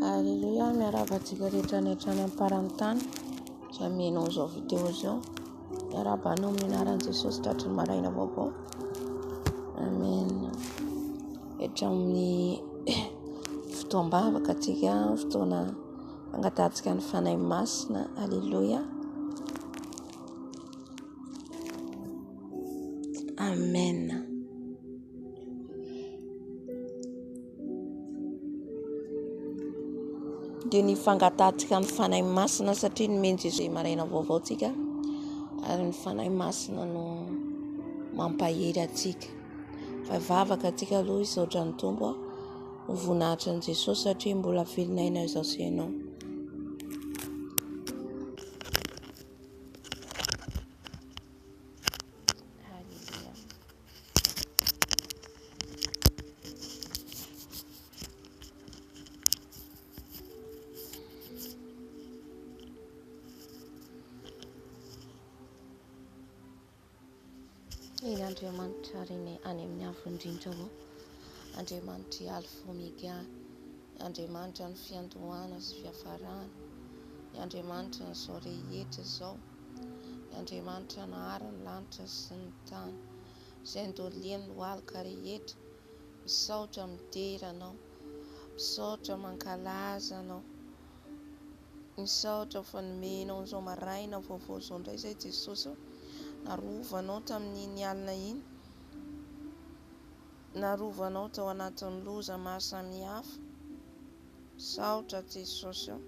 Aleloia, miarahaba antsika rehetra any hatrany am-paran'ny tany izay mihaino an'izao video izao. Miarahaba anao amin'ny anaran'i Jesosy tratry ny maraina vaovao. Amen. Hatramin'ny fotoam-bavaka antsika, fotoana fangatahantsika ny Fanahy Masina. Aleloia. Amen. dia ny fangatahantsika ny Fanahy Masina satria nomeny Jésus maraina vaovao tsika ary ny Fanahy Masina no mampahery atsika fa vavaka atsika aloha hisaotra ny Tompo ho voninahitra an'i Jesosy satria mbola velona aina izao sy ianao Eny Andriamanitra reny any amin'ny avo indrindra ao. Andriamanitra i Alfa Omega. Andriamanitra ny fiandohana sy fiafarana. Andriamanitra ny izao rehetra izao. I Andriamanitra nahary ny lanitra sy ny tany, izay nodoliany lohalika rehetra, misaotra midera Anao, misaotra mankalaza Anao, misaotra fa nomenao an'izao maraina vaovao izao indray izay Jesosy ô, narovanao tamin'iny alina iny, narovanao tao anatin'ny loza maro samihafa, Misaotra Jesosy o!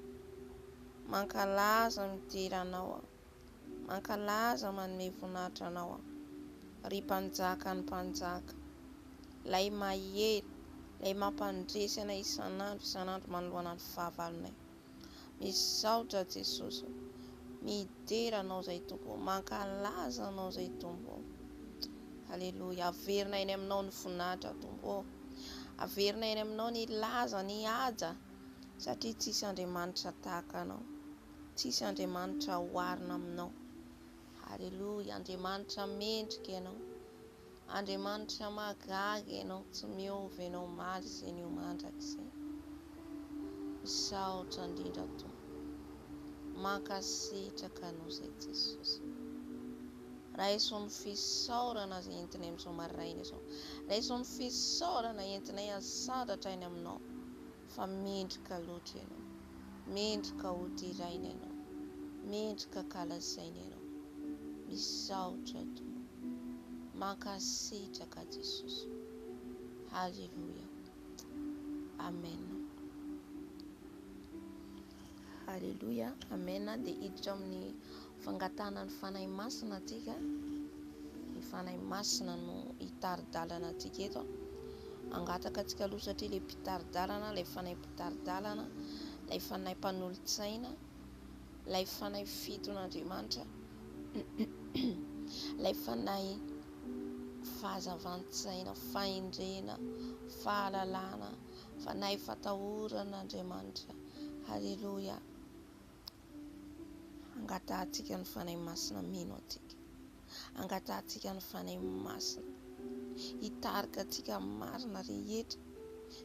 Mankalaza midera Anao aho. Mankalaza manome voninahitra Anao aho. Ry Mpanjaka ny mpanjaka. Ilay mahery, Ilay mampandresy anay isan'andro isan'andro manoloana ny fahavalonay. Misaotra Jesosy o. Midera anao zay Tompo o. Mankalaza anao zay Tompo o. Aleloia. Averina eny aminao ny voninahitra Tompo o. Averina eny aminao ny laza ny haja satria tsisy Andriamanitra tahaka anao. Tsisy Andriamanitra oharina aminao. Aleloia. Andriamanitra mendrika ianao. Andriamanitra mahagaga ianao tsy miova ianao omaly sy anio mandrakizay misaotra indrindra tompo mankasitraka anao izay jesosy raiso ny fisaorana izay entinay amin'izao maraina izao raiso ny fisaorana entinay asadratra aina aminao Fa mendrika loatra ianao. Mendrika ho deraina ianao. Mendrika kalazaina ianao. Misaotra Tompo. Mankasitraka Jesosy. Haleloia. Amen. Aleloia amen dia hiditra amin'ny fangatahana ny fanahy masina antsika ny fanahy masina no hitari-dalana antsika eto angataka antsika aloha satria ilay mpitari-dalana ilay fanahy mpitari-dalana ilay fanahy mpanolotsaina ilay fanahy fiton'andriamanitra ilay fanahy fahazavan-tsaina fahendrena fahalalana Fanahy fatahoran Andriamanitra. Haleloia. Angatahantsika ny Fanahy Masina mino antsika. Angatahantsika ny Fanahy Masina hitarika antsika marina rehetra.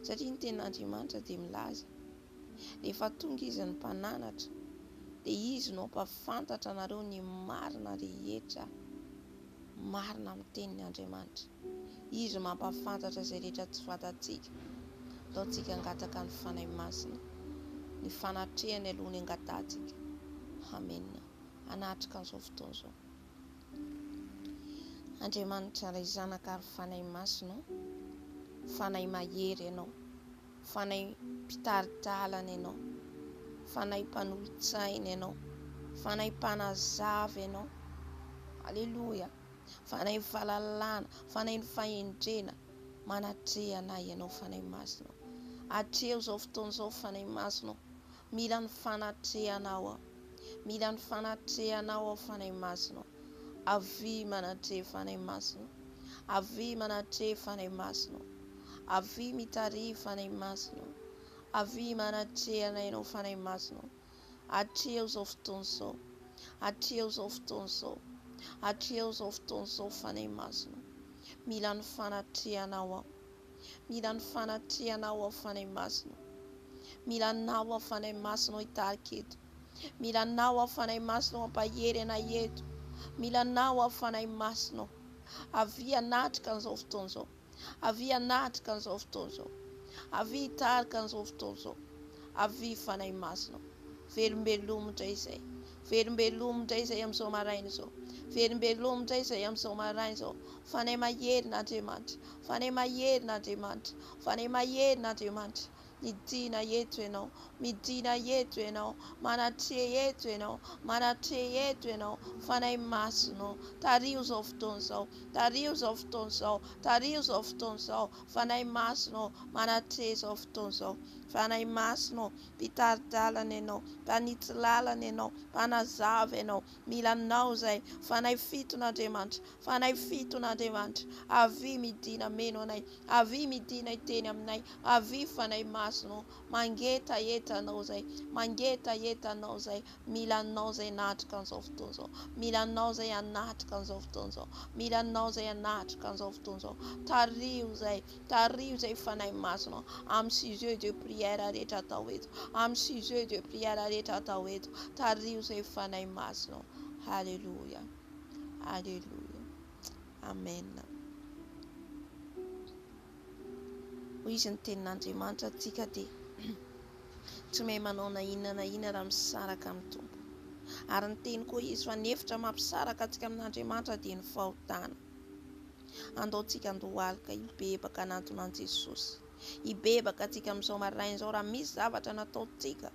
Satria ny ten'Andriamanitra dia milaza, rehefa tonga izy ny mpananatra, dia izy no ampafantatra anareo ny marina rehetra. Marina amin'ny tenin'Andriamanitra. Izy mampahafantatra izay rehetra tsy fantatsika. Ataontsika hangataka ny Fanahy Masina, ny fanatrehany aloha ny angatahantsika. Amena. Hanatrika an'izao fotoana izao. Andriamanitra Ray Zanaka ary Fanahy Masina ô, Fanahy Mahery Ianao, Fanahy Mpitari-dalana Ianao, Fanahy Mpanolo-tsaina Ianao, Fanahy Mpanazava Ianao. Aleloia. Fanahy ny fahalalana, Fanahy ny fahendrena, manatreha anay Ianao Fanahy Masina ô. Atreho izao fotoana izao Fanahy Masina ô. Mila ny fanatrehanao aho. Mila ny fanatrehanao aho Fanahy Masina ô. Avia manatreha Fanahy Masina ô. Avia manatreha Fanahy Masina ô. Avia mitariha Fanahy Masina ô. Avia manatreha anay Ianao Fanahy Masina ô. Hatreho izao fotoana izao. Hatreho izao fotoana izao. Hatreho izao fotoana izao Fanahy Masina. Mila ny fanatrehanao aho. Mila ny fanatrehanao aho Fanahy Masina. Mila anao aho Fanahy Masina hitarika eto. Mila anao aho Fanahy Masina hampahery anay eto. Mila anao aho Fanahy Masina. Avia hanatrika an'izao fotoana izao. Avia hanatrika an'izao fotoana izao. Avia hitarika an'izao fotoana izao. Avia Fanahy Masina o. Velombelomy indray izay. Velombelomy indray izay amin'izao maraina izao. Velombelomy indray izay amin'izao maraina izao. Fanahy Maherina Andriamanitra. Fanahy Maherina Andriamanitra. Fanahy Maherina Andriamanitra. Midina eto Ianao, midina eto Ianao, manatreha eto Ianao, manatreha eto Ianao, Fanahy Masina ô, tariho izao fotoana izao, tariho izao fotoana izao, tariho izao fotoana izao, Fanahy Masina ô, manatreha izao fotoana izao, Fanahy Masina ô, Mpitari-dalana Ianao, Mpanitsy lalana Ianao, Mpanazava Ianao, mila Anao izay, Fanahy fitona Andriamanitra, Fa anay fitona Andriamanitra, avia midina meno anay, avia midina hiteny aminay, avia fanahy masina ô, mangetaheta anao izay, mangetaheta anao izay mila anao izay natrika an'izao fotoana izao, mila anao izay hanatrika an'izao fotoana izao, mila anao izay hanatrika an'izao fotoana izao, tariho izay, tariho izay fanahy masina ô, amin'ny sujet de prière rehetra atao eto, amin'ny sujet de prière rehetra atao eto, tariho izay fanahy masina ô, haleloia. Aleloia. Amen. Hoy izy ny tenin'Andriamanitra antsika dia tsy mahay manao na inona na inona raha misaraka amin'ny Tompo. Ary ny teny koa izy fa ny efitra mampisaraka antsika amin'Andriamanitra dia ny fahotana. Andaontsika andohalika hibebaka hanantona an'i Jesosy. Hibebaka antsika amin'izao maraina izao raha misy zavatra nataontsika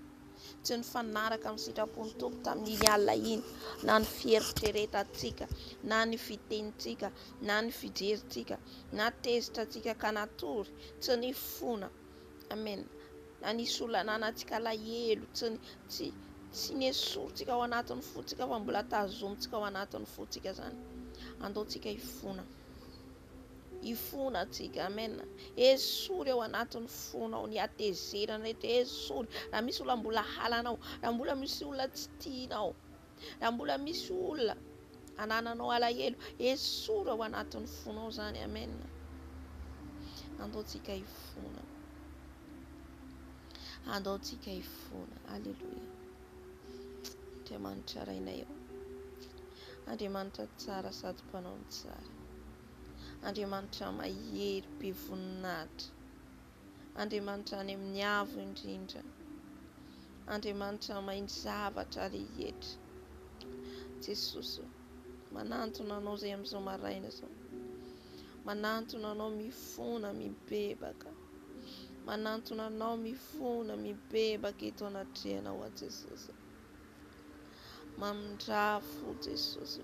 tsy nifanaraka amin'ny sitrapon'ny Tompo tamin'iny alina iny, na ny fieritreretantsika, na ny fitenintsika, na ny fijerintsika, na tezitra antsika ka natory, tsy ny fona, amen, na nisolananantsika alahelo, tsy ny, tsy, tsy nesorintsika ao anatin'ny fontsika fa mbola tazomintsika ao anatin'ny fontsika zany, andaontsika hifona. Hifona atsika. Amen. Esory ao anatin'ny fonao ny hatezerana rehetra. Esory. Raha misy olona mbola halanao, raha mbola misy olona tsy tianao, raha mbola misy olona anananao alahelo, esory ao anatin'ny fonao zany. Amen. Andaontsika hifona. Andaontsika hifona. Alléluia. Andriamanitra Rainay ô. Andriamanitra tsara sady mpanao ny tsara. Andriamanitra mahery be voninahitra. Andriamanitra any amin'ny avo indrindra. Andriamanitra mahay ny zavatra rehetra. Jesosy ô, manantona anao izay amin'izao maraina izao. Manantona anao mifona, mibebaka. Manantona anao mifona mibebaka eto anatrehana hoa Jesosy Mamindraha fo Jesosy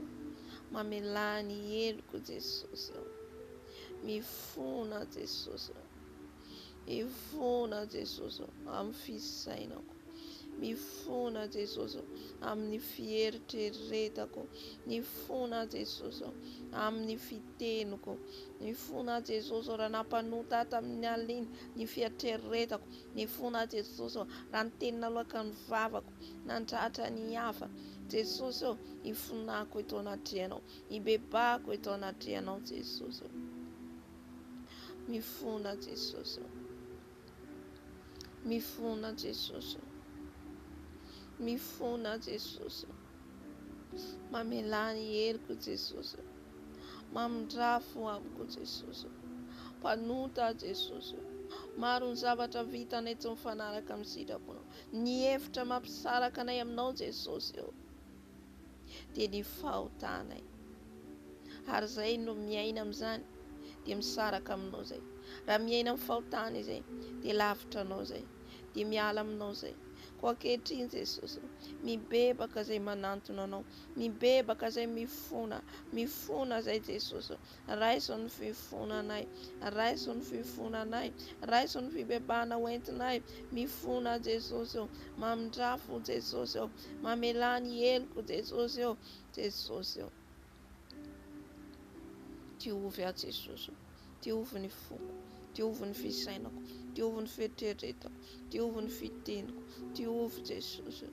Mamelà ny heloko Jesosy aho Mifona Jesosy Mifona Jesosy amin'ny fisainako Mifona Jesosy ô amin'ny fieritreretako Mifona Jesosy ô amin'ny fiteniko Mifona Jesosy ô raha nampanota ahy tamin'ny alina iny ny fieritreretako Mifona Jesosy ô raha ny teny naloaka ny vavako nandratra ny hafa Jesosy ô ifonako eto anatrehanao Ibebahako eto anatrehanao Jesosy ô Mifona Jesosy ô. Mifona Jesosy o. Mifona Jesosy o. Mamelà ny heriko Jesosy o. Mamindrafo amiko Jesosy o. Mpanota Jesosy o. Maro ny zavatra vitanay tsy mifanaraka amin'ny sitraponao. Ny hevitra mampisaraka anay aminao Jesosy o. dia ny fahotanay ary izay no miaina amin'izany dia misaraka aminao izay raha miaina amin'ny fahotana izay dia lavitra anao izay dia miala aminao izay ko ankehitriny Jesosy mibebaka izay manantona anao mibebaka izay mifona mifona izay Jesosy Raiso ny fivonanay. Raiso ny fivonanay. Raiso ny fibebahana ho entinay. Mifona Jesosy ô. Mamindrafo o Jesosy ô. Mamelà ny heloko Jesosy ô. Jesosy ô. Diovy aho Jesosy ô. Diovy ny foko. Diovy ny fisainako. Diovy ny fieritreretako. Diovy ny fiteniko. Diovy Jesosy ô.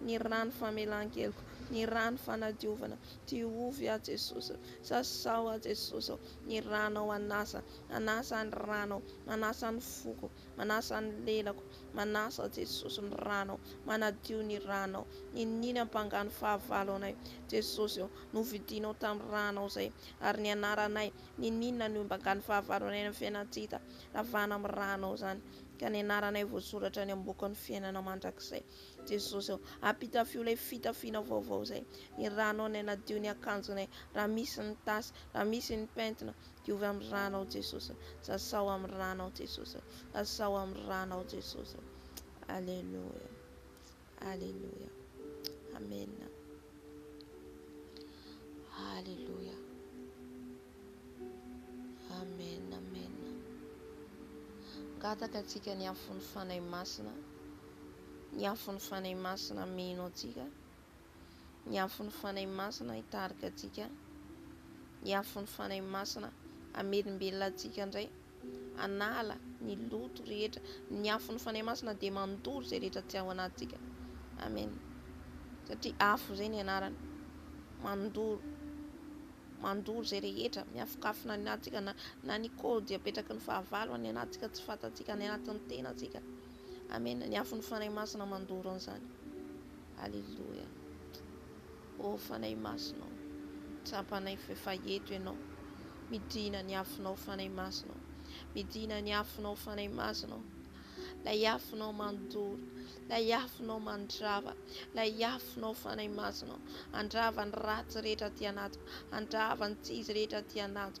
Ny rano famelan-keloka, ny rano fanadiovana, diovy aho Jesosy oh, sasao aho Jesosy oh, ny ranao hanasa, manasa ny ranao, manasa ny foko, manasa ny lelako, manasa Jesosy ny ranao, manadio ny ranao, niniany hampanga ny fahavalo anay Jesosy oh, novidinao tamin'ny ranao izay, ary ny anaranay, niniana ny hampanga ny fahavalo anay any amin'ny fiainana tsy hita ravana amin'ny ranao izany, ka ny anaranay voasoratra any am-bokin'ny fiainana mandrakizay. Jesosy ô, ampitafio ilay fitafiana vaovao izay. Ny Ranao anay nadio ny akanjonay, raha misy ny tasy, raha misy ny pentina, diovy amin'ny Ranao Jesosy ô. Sasao amin'ny Ranao Jesosy ô. Sasao amin'ny Ranao Jesosy ô. Aleloia. Aleloia. Amen. Aleloia. Amen, amen. Angataka antsika ny afon'ny Fanahy Masina. Ny afon'ny Fanahy Masina mino antsika. Ny afon'ny Fanahy Masina hitarika antsika. Ny afon'ny Fanahy Masina hamelombelona antsika indray. Anala ny loto rehetra. Ny afon'ny Fanahy Masina dia mandoro izay rehetra tsy ao anatintsika. Amen. Satria afo izay ny anarany. Mandoro. Mandoro izay rehetra. Miafokafona ny anatintsika na, na ny kody apetraky ny fahavalo any anatintsika tsy fantantsika any anatin'ny tenantsika. Amena ny afon'ny Fanahy Masina mandoro an'izany. Aleloia. Ô Fanahy Masina ô. Tsapanay f'efa eto Ianao. Midina ny afonao Fanahy Masina ô. Midina ny afonao Fanahy Masina ô. Lay afonao mandoro. Lay afonao mandrava. Lay afonao Fanahy Masina ô. Andrava ny ratsy rehetra aty anaty. Andrava ny tsy izy rehetra aty anaty.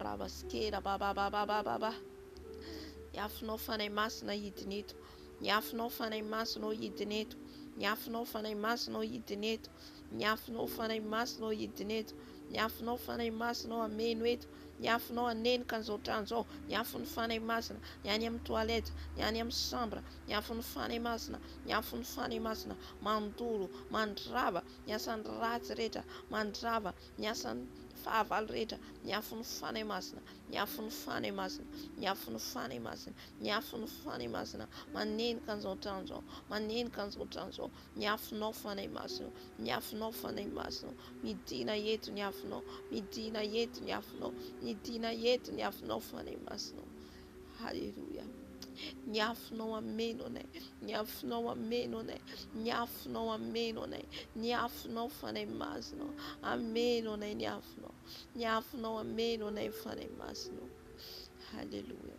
Rava sy kera babababababa Ny afonao Fanahy Masina hidina eto Ny afonao Fanahy Masina ô hidina eto Ny afonao Fanahy Masina ô hidina eto Ny afonao Fanahy Masina ô hidina eto Ny afonao Fanahy Masina ô hameno eto Ny afonao hanenka an'izao trano izao Ny afon'ny Fanahy Masina Ny any amin'ny toilette Ny any amin'ny chambre Ny afon'ny Fanahy Masina Ny afon'ny Fanahy Masina Mandoro Mandrava ny asan'ny ratsy rehetra, mandrava ny asan'ny fahavalo rehetra, ny afon'ny Fanahy Masina, ny afon'ny Fanahy Masina, ny afon'ny Fanahy Masina, ny afon'ny Fanahy Masina, manenika an'izao trano izao, manenika an'izao trano izao, ny afonao Fanahy Masina, ny afonao Fanahy Masina, midina eto ny afonao, midina eto ny afonao, midina eto ny afonao Fanahy Masina, Haleloia. Ny afonao ameno anay. Ny afonao ameno anay. Ny afonao ameno anay. Ny afonao fanay masinao. Ameno anay ny afonao. Ny afonao ameno anay fanay masinao. Haleloia.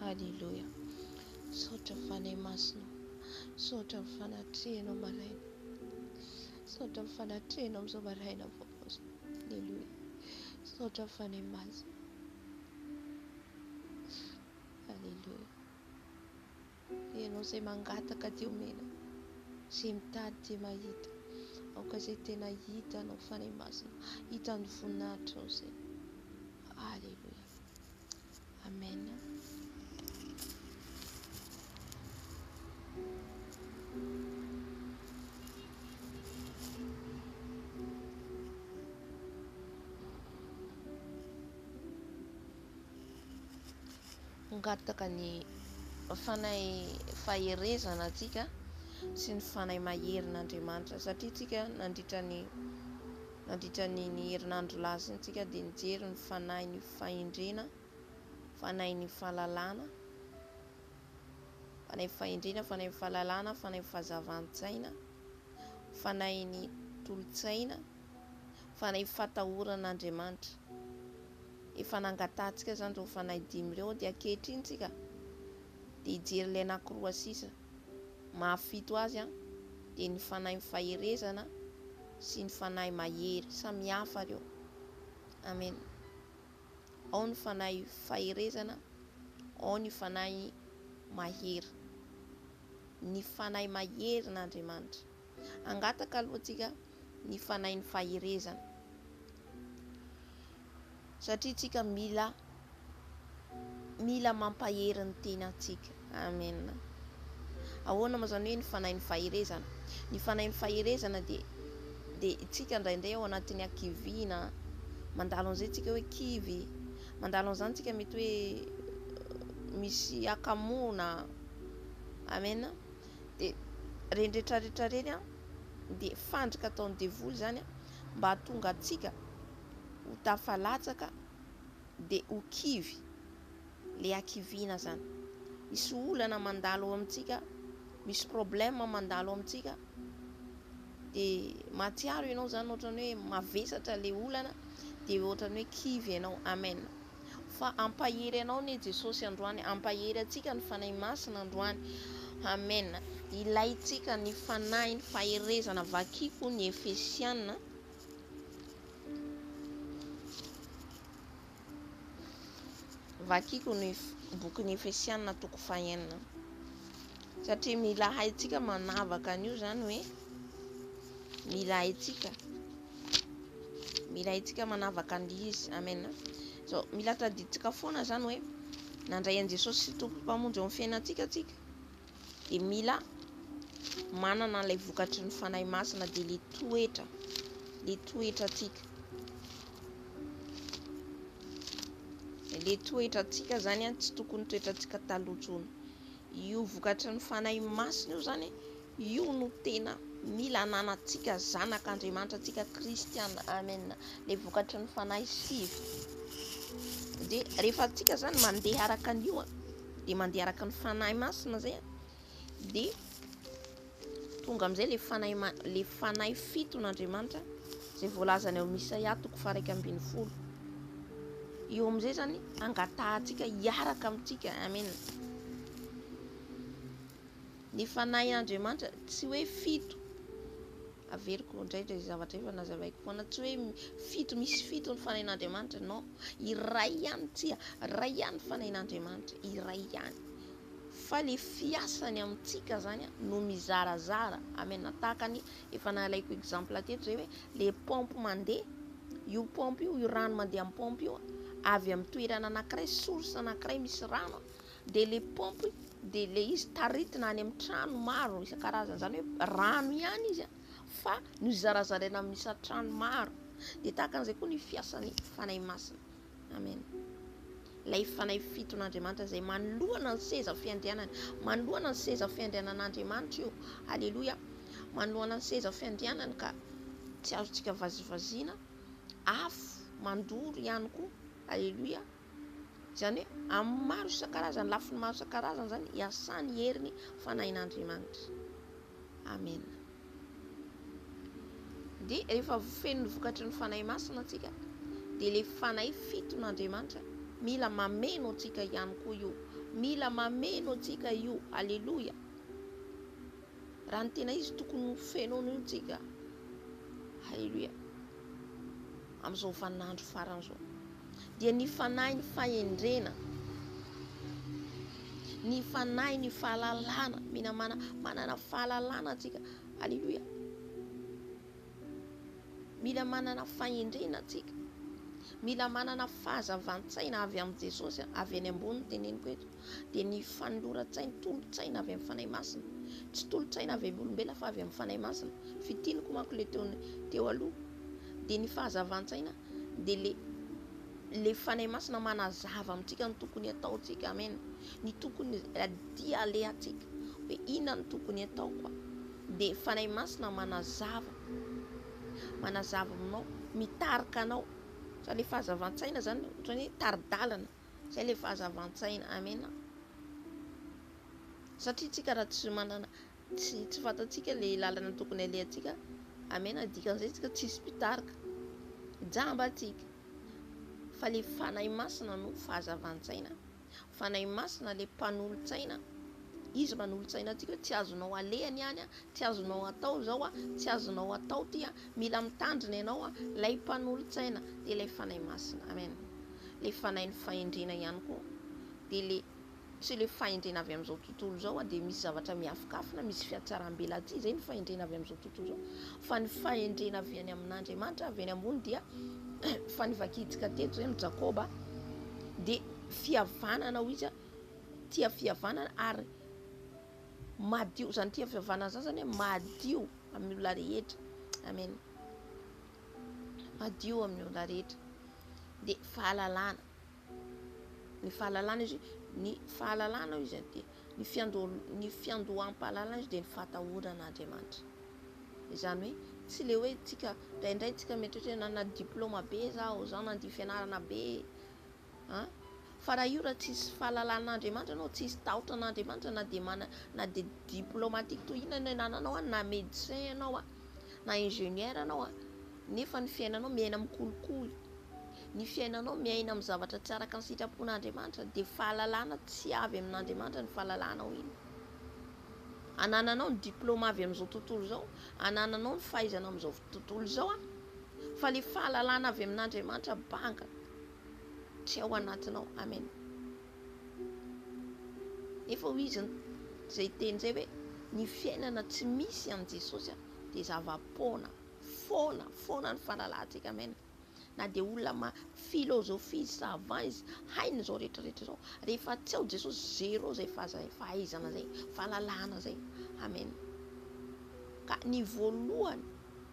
Aleloia. Misaotra ny Fanahy Masinao. Misaotra ny fanatrehanao maraina. Misaotra ny fanatrehanao amin'izao maraina vaovao izao. Aleloia. Misaotra ny Fanahy Masina. Aleloia. Ianao izay mangataka dia omena, izay mitady dia mahita, aoka izay tena hita anao Fanahy Masina, hita ny voninahitrao izay. Alléluia. Amen. Hangataka ny Fanahy faherezana antsika sy ny Fanahy maherin'Andriamanitra satria tsika nandritra ny nandritra ny ny herinandro lasa iny tsika dia nijery ny Fanahin'ny fahendrena, Fanahin'ny fahalalana, Fanahin'ny fahendrena, Fanahin'ny fahalalana, Fanahin'ny fahazavan-tsaina, Fanahin'ny tolo-tsaina, Fanahin'ny fatahoran'Andriamanitra. efa nangatahantsika izany ireo fanahy dimy ireo dia ankehitriny tsika dia hijery ilay anakiroa sisa maha fito azy an dia ny fanahy mifaherezana sy ny fanahy mahery samy hafa ireo amen ao ny fanahy faherezana ao ny fanahy mahery ny fanahy mahery n'Andriamanitra angataka aloha tsika ny fanahin'ny faherezana. Satria tsika mila mila mampahery ny tenantsika. Amen. Ahoana moa izany hoe ny fanahin'ny faherezana? Ny fanahin'ny faherezana dia dia tsika indraindray ao anatin'ny hakiviana, mandalo an'izay tsika hoe kivy, mandalo an'izany tsika mety hoe misy hakamoana. Amen. Dia reny rehetra rehetra reny dia fandrika ataon'ny devoly izany mba hahatonga antsika ho tafalatsaka dia ho kivy. Ilay hakiviana izany. Misy olana mandalo ao amintsika, misy problème mandalo ao amintsika dia mahatsiaro ianao izany ohatran'ny hoe mavesatra ilay olana dia ohatran'ny hoe kivy ianao. Amen. Fa hampahery anao anie Jesosy androany Hampahery antsika ny Fanahy Masina androany Amen Ilaintsika ny Fanahiny faherezana Vakiko ny Efesiana Vakiko ny bokin'ny Efesiana toko fahenina Satria mila haintsika manavaka an'io zany hoe Mila haintsika Mila haintsika manavaka an'izy. Amen. So, mila tadidintsika foana izany hoe nandray an'i Jesosy sy Tompo Mpamonjy eo amin'ny fiainantsika antsika. Dia mila manana ilay vokatry ny Fanahy Masina dia le toetra, le toetra antsika. Le toetra antsika izany tsy tokony toetra antsika taloha Io vokatry ny Fanahy Masina io izany Io no tena mila ananantsika zanak' Andriamanitra antsika kristiana amen le vokatry ny fanahy sivy de rehefa antsika zany mandeha araka ny io a de mandeha araka ny fanahy masina zay a de tonga amizay le fanahy le fanahy fito n'Andriamanitra zay voalazany ao Isaia toko faraika ambin'ny folo io amizay zany angatahantsika hiaraka amintsika amen Ny fanahin' Andriamanitra, tsy hoe fito, averiko indray ilay zavatra efa nazavaiko foana, tsy hoe fito, misy fito ny fanahin' Andriamanitra, non, iray ihany, tsia, iray ihany ny fanahin' Andriamanitra, iray ihany, fa ilay fiasany amintsika izany no mizarazara, amen, tahaka ny efa nalaiko exemple teto izay hoe ilay paompy mandeha, io paompy io, io rano mandeha amin'ny paompy io, avy amin'ny toerana anankiray, source anankiray misy rano, dia le pompe dia le izy taritina any amin'ny trano maro isan-karazany zany hoe rano ihany izy fa no zarazaraina amin'ny isan-trano maro dia tahaka an'izay koa ny fiasan'ny fanahy masina amen ilay fanahy fiton'andriamanitra izay manoloana ny seza fiandrianany manoloana ny seza fiandrianan'andriamanitra io aleloia manoloana ny seza fiandrianany ka tsy azontsika vazivaziana afo mandoro ihany koa aleloia Izany hoe amin'ny maro isan-karazany, lafiny maro isan-karazany izany hiasan'ny herin'ny Fanahin'Andriamanitra. Amena. Dia rehefa feno ny vokatry ny Fanahy Masina antsika, dia ilay Fanahy fiton'Andriamanitra mila mameno antsika ihany koa io. Mila mameno antsika io. Aleloia. Raha ny tena izy tokony ho fenoina io tsika. Aleloia. Amin'izao vaninandro farany izao. dia ny fanahy ny fahendrena, ny fanahy ny fahalalana, mila mana, manana fahalalana antsika, aleloia, mila manana fahendrena antsika, mila manana fahazavan-tsaina avy amin'i Jesosy, avy any ambony ny teneniko eto. dia ny fanoloran-tsain'ny tolo-tsaina avy amin'ny Fanahy Masina. Tsy tolo-tsaina avy amin'ny olombelona fa avy amin'ny Fanahy Masina. Fitiniko manko ilay teo teo aloha dia ny fahazavan-tsaina dia le le Fanahy Masina manazava amintsika ny tokony ataontsika. Amen. Ny tokony dia alehantsika hoe inona ny tokony ataoko dia Fanahy Masina manazava manazava aminao mitarika anao fa le fahazavan-tsaina zany ohatrany hoe tari-dalana Zay le fahazavan-tsaina. Amena. Satria tsika raha tsy manana tsy tsy fantatsika le lalana tokony alehantsika. Amena dikan'izay tsika tsisy mpitarika. Jamba tsika. Fa le fanahy masina no fahazavan-tsaina. Fanahy masina le mpanolo-tsaina. Izy manolo-tsaina antsika hoe tsy azonao aleha ny any, tsy azonao atao izao, tsy azonao atao ty, mila mitandrina ianao, lay mpanolo-tsaina dia lay fanahy masina. Amen. le fanahin'ny fahendrena ihany koa de le tsy le fahendrena avy amin'izao tontolo izao a, de misy zavatra miafokafona, misy fiatsarambelatsihy, zay ny fahendrena avy amin'izao tontolo izao, fa ny fahendrena avy any amin'Andriamanitra avy any ambony dia fa nivakiantsika teto zay amin'i Jakoba de fihavanana hoy izy a, tia fihavanana ary madio, zany tia fihavanana zany zany hoe madio amin'ny olona rehetra, amen. madio amin'ny olona rehetra dia fahalalana ny fahalalana izy ny fahalalana ao izy dia ny fiando ny fiandoham-pahalalana izy dia ny fahatahorana Andriamanitra izany hoe tsy le hoe tsika indraindray tsika mieritreritra na diplôma be zaho zao na dia fianarana be An! Fa raha io raha tsisy fahalalan'Andriamanitra anao, tsisy tahotra an'Andriamanitra na dia mana na dia diplomatique toy inona no enananao an, na médecin ianao an, na ingénieur ianao an, nefa ny fiainanao miaina amin'ny kolikoly, ny fiainanao miaina amin'ny zavatra tsy araka ny sitrapon'Andriamanitra dia fahalalana tsy avy amin'Andriamanitra ny fahalalanao iny. Anananao ny diploma avy amin'izao tontolo izao, anananao ny fahaizana amin'izao tontolo izao an, fa ilay fahalalana avy amin'Andriamanitra banga. tsy ao anatinao. Amen. Nefa hoy izy izay teny izay hoe ny fiainana tsy misy an'i Jesosy a dia zava-poana foana foana ny fahalalantsika. Amen. Na dia olona ma philosophie izy, savant izy, hainy izao rehetra rehetra izao, rehefa tsy ao Jesosy zéro izay fahaizana izay, fahalalana izay. Amen. Ka ny voalohany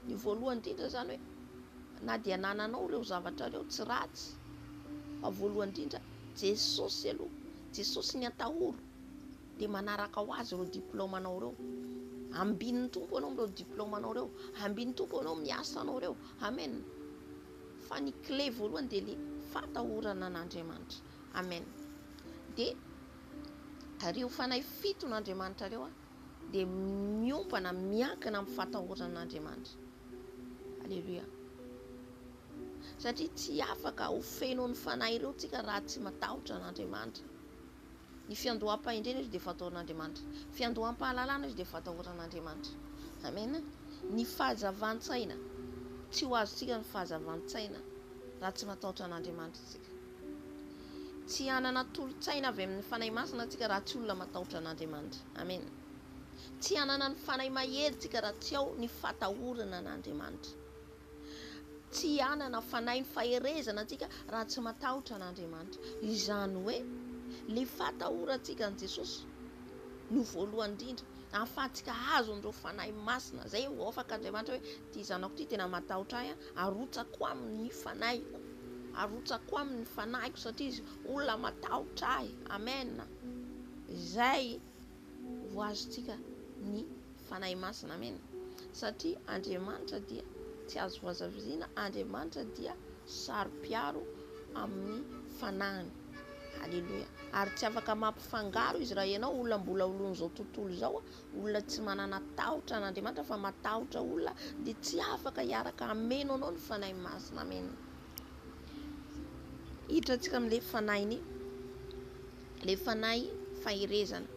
Ny voalohany indrindra izany hoe na dia anananao ireo zavatra ireo tsy ratsy fa voalohany indrindra Jesosy aloha, Jesosy ny atahoro dia manaraka ho azy ireo diplaomanao ireo. Ambin'ny Tompo ianao amin'ireo diplaomanao ireo, ambin'ny Tompo ianao amin'ny asanao ireo. Amen. Fa ny clé voalohany dia ilay fatahorana an'Andriamanitra. Amen. Dia ireo fanahy fiton'Andriamanitra ireo dia miompana, miankina amin'ny fatahoran' Andriamanitra. Aleloia. Satria tsy afaka ho feno ny fanahy ireo tsika raha tsy matahotra an'Andriamanitra. Ny fiandoham-pahendrena izy dia fatahoran'Andriamanitra. Fiandoham-pahalalana izy dia fatahoran'Andriamanitra. Amena. Ny fahazavan-tsaina, tsy ho azontsika ny fahazavan-tsaina raha tsy matahotra an'Andriamanitra tsika. Tsy hanana tolo-tsaina avy amin'ny Fanahy Masina tsika raha tsy olona matahotra an'Andriamanitra. Amena. Tsy hanana ny Fanahy Mahery tsika raha tsy ao ny fatahorana an'Andriamanitra. Tsy hanana Fanahy ny faherezana tsika raha tsy matahotra an'Andriamanitra. Izany hoe, le fatahorantsika an'i Jesosy no voalohany indrindra ahafahantsika azo an'ireo Fanahy Masina. Zay ho afaka Andriamanitra hoe, ty zanako ty tena matahotra ahy an, Arotsako aminy ny fanahiko. Arotsako aminy ny fanahiko satria izy olona matahotra ahy. Amen. Izay ho azontsika ny fanahy masina. Amen. Satria Andriamanitra dia tsy azo vazaviziana, Andriamanitra dia saro-piaro amin'ny fanahiny. Aleloia. Ary tsy afaka mampifangaro izy raha ianao olona mbola olon'izao tontolo izao Olona tsy manana tahotra an' Andriamanitra fa matahotra olona dia tsy afaka hiaraka hameno anao ny Fanahy Masina. Amen. Hiditra antsika amin'ilay fanahiny, ilay fanahy faherezana.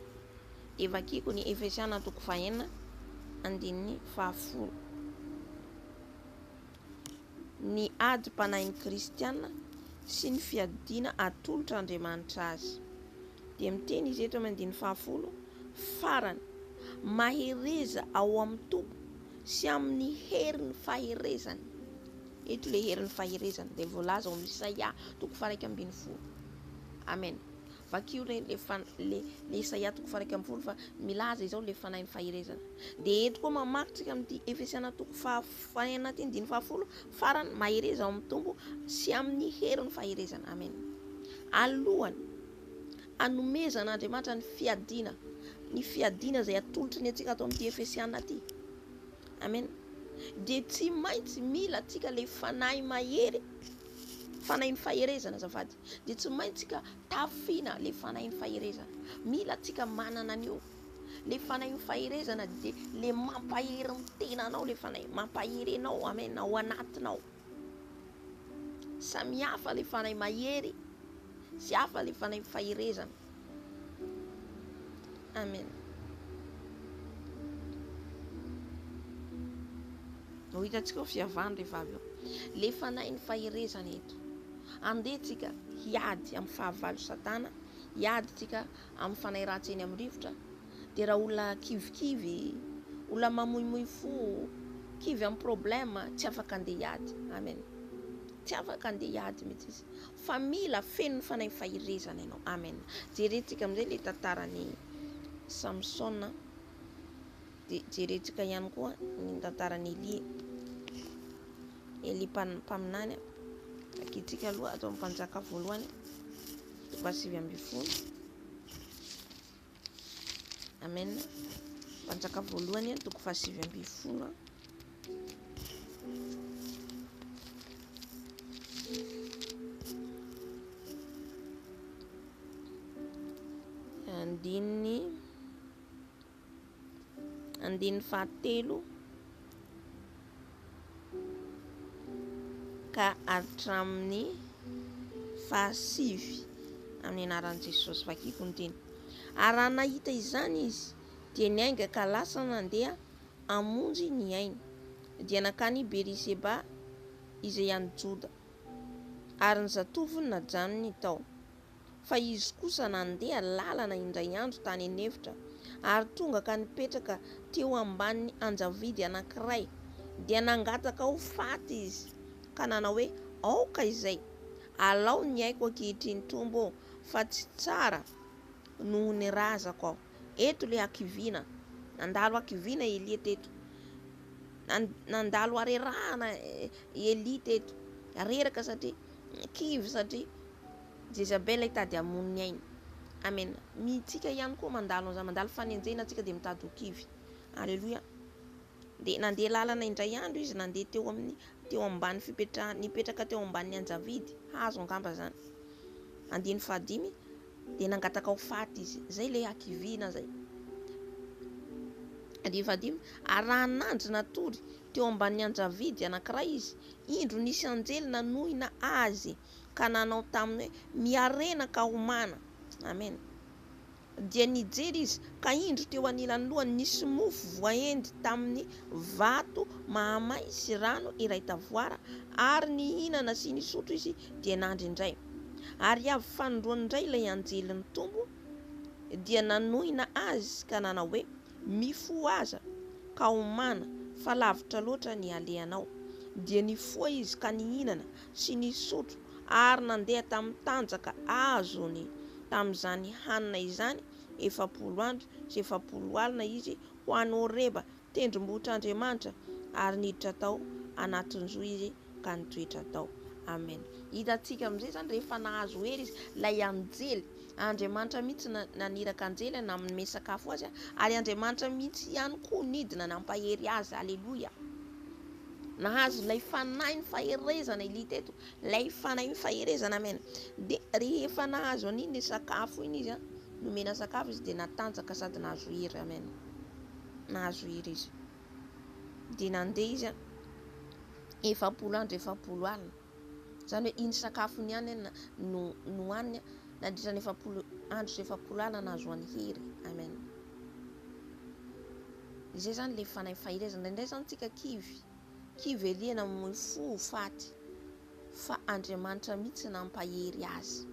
Dia vakiko ny Efesiana toko fahenina andininy fahafolo. ny adim-panahin'ny kristiana sy ny fiadiana atolotr' Andriamanitra azy. Dia miteny izy eto amin'ny andininy fahafolo farany, Mahereza ao amin'ny Tompo sy amin'ny herin'ny faherezany. Eto ilay herin'ny faherezany dia voalaza ao amin'ny Isaia toko faharaika ambin'ny folo. Amen. Vakio re le fan le le Isaia toko faharaika ambin'ny folo fa milaza izao le fanahin'ny faherezana. Dia eto koa mamaky tsika amin'ity Efesiana toko fahafolo Ho any anaty andininy fahafolo farany, mahereza ao amin'ny Tompo sy amin'ny herin'ny faherezany. Amen. Alohan'ny hanomezan'Andriamanitra ny fiadiana, ny fiadiana izay atolotry ny antsika ato amin'ity Efesiana ity. Amen. Dia tsy maintsy mila antsika ilay fanahy mahery, fanahin'ny faherezana azafady. Dia tsy maintsy ka tafiana ilay fanahin'ny faherezana. Mila antsika manana an'io. Le fanahy ny faherezana dia le mampahery ny tenanao le fanahy, mampahery anao, amen, ao anatinao. Samy hafa le fanahy mahery sy hafa le fanahy faherezana. Amen. Ho hitantsika ho fiavany rehefa avy eo. Le fanahy ny faherezana eto. Andeha tsika hiady amin'ny fahavalo satana, hiady tsika amin'ny fanahy ratsy eny amin'ny rivotra, dia raha olona kivikivy, olona mamoimoy fo, kivy amin'ny problème, tsy afaka handeha hiady. Amen. Tsy afaka handeha hiady mihitsy izy. Fa mila fenon'ny fanahy fahirezana ianao. Amen. Jerentsika amin'izay ilay tantaran'i Samsona. Dia jerentsika ihany koa ny tantaran'i Elia. Elia mpaminany, ankiantsika aloha atao mpanjaka voalohany, toko fahasivy ambin'ny folo. Amen. Mpanjaka voalohany, toko fahasivy ambin'ny folo. Andininy Andininy fahatelo ka hatramin'ny fahasivy amin'ny anaran'i Jesosy. Vakiko ny teny. Ary raha nahita izany izy, dia niainga ka lasa nandeha hamonjy ny ainy. Dia nankany Beriseba izay any Joda, ary ny zatovony najanony tao. fa izy kosa nandeha lalana indray andro tany an'efitra, ary tonga ka nipetraka teo ambanin'ny anjavidy anankiray, dia nangataka ho faty izy, ka nanao hoe, Aoka izay, alao ny aiko ankehitriny Tompo ô, fa tsy tsara noho ny razako aho. Eto ilay hakiviana, nandalo hakiviana Elia teto. Nandalo harerahana Elia teto, reraka satria Kivy satria Jezabela hitady hamono ny ainy. Amena. Mitsika ihany koa mandalo an'izany, mandalo fanenjehina tsika dia mitady ho kivy. Aleloia. Dia nandeha lalana indray andro izy, nandeha teo amin'ny teo ambany fipetrahany, nipetraka teo ambanin'ny anjavidy, hazo angamba izany. Andininy fahadimy, dia nangataka ho faty izy. Izay ilay hakiviana izay. Andininy fahadimy, arahan'anjy natory teo ambanin'ny anjavidy anankiray izy, Indro nisy anjely nanohina azy ka nanao taminy hoe, Miharena ka homana. Amen. Dia nijery izy, ka indro teo anilan'ny lohany nisy mofo voaendy tamin'ny vato mahamay sy rano iray tavoara, ary nihinana sy nisotro izy, dia nandry indray. Ary avy fanindroany indray ilay anjelin'ny Tompo dia nanohina azy ka nanao hoe, Mifohaza, ka homana, fa lavitra loatra ny halehanao. Dia nifoha izy ka nihinana sy nisotro ary nandeha tamin'ny tanjaka azony. Tamin'izany hanina izany, efapolo andro sy efapolo alina izy ho any Horeba, tendrombohitr'Andriamanitra, ary niditra tao anatin-jo izy. ka ny toetra atao. Amen. Hitantsika amin'izay izany rehefa nahazo hery izy. Ilay anjely. Andriamanitra mihitsy no naniraka anjely nanome sakafo azy a. Ary Andriamanitra mihitsy ihany koa nidina nampahery azy. Aleloia. Nahazo ilay fanahin'ny faherezana i Lita eto. Ilay fanahin'ny faherezana. Amen. Dia rehefa nahazo an'iny sakafo iny izy a, nomena sakafo izy dia natanjaka sady nahazo hery. Amen. Nahazo hery izy. dia nandeha izy an, efapolo andro efapolo alina, izany hoe iny sakafony ihany an no nohaniny an, nandritra ny efapolo andro sy efapolo alina nahazoany hery, amen. Izay izany ilay fanahy fahirezana, indraindray izany tsika kivy, kivy alien amin'ny fo ho faty, fa Andriamanitra mihitsy nampahery azy.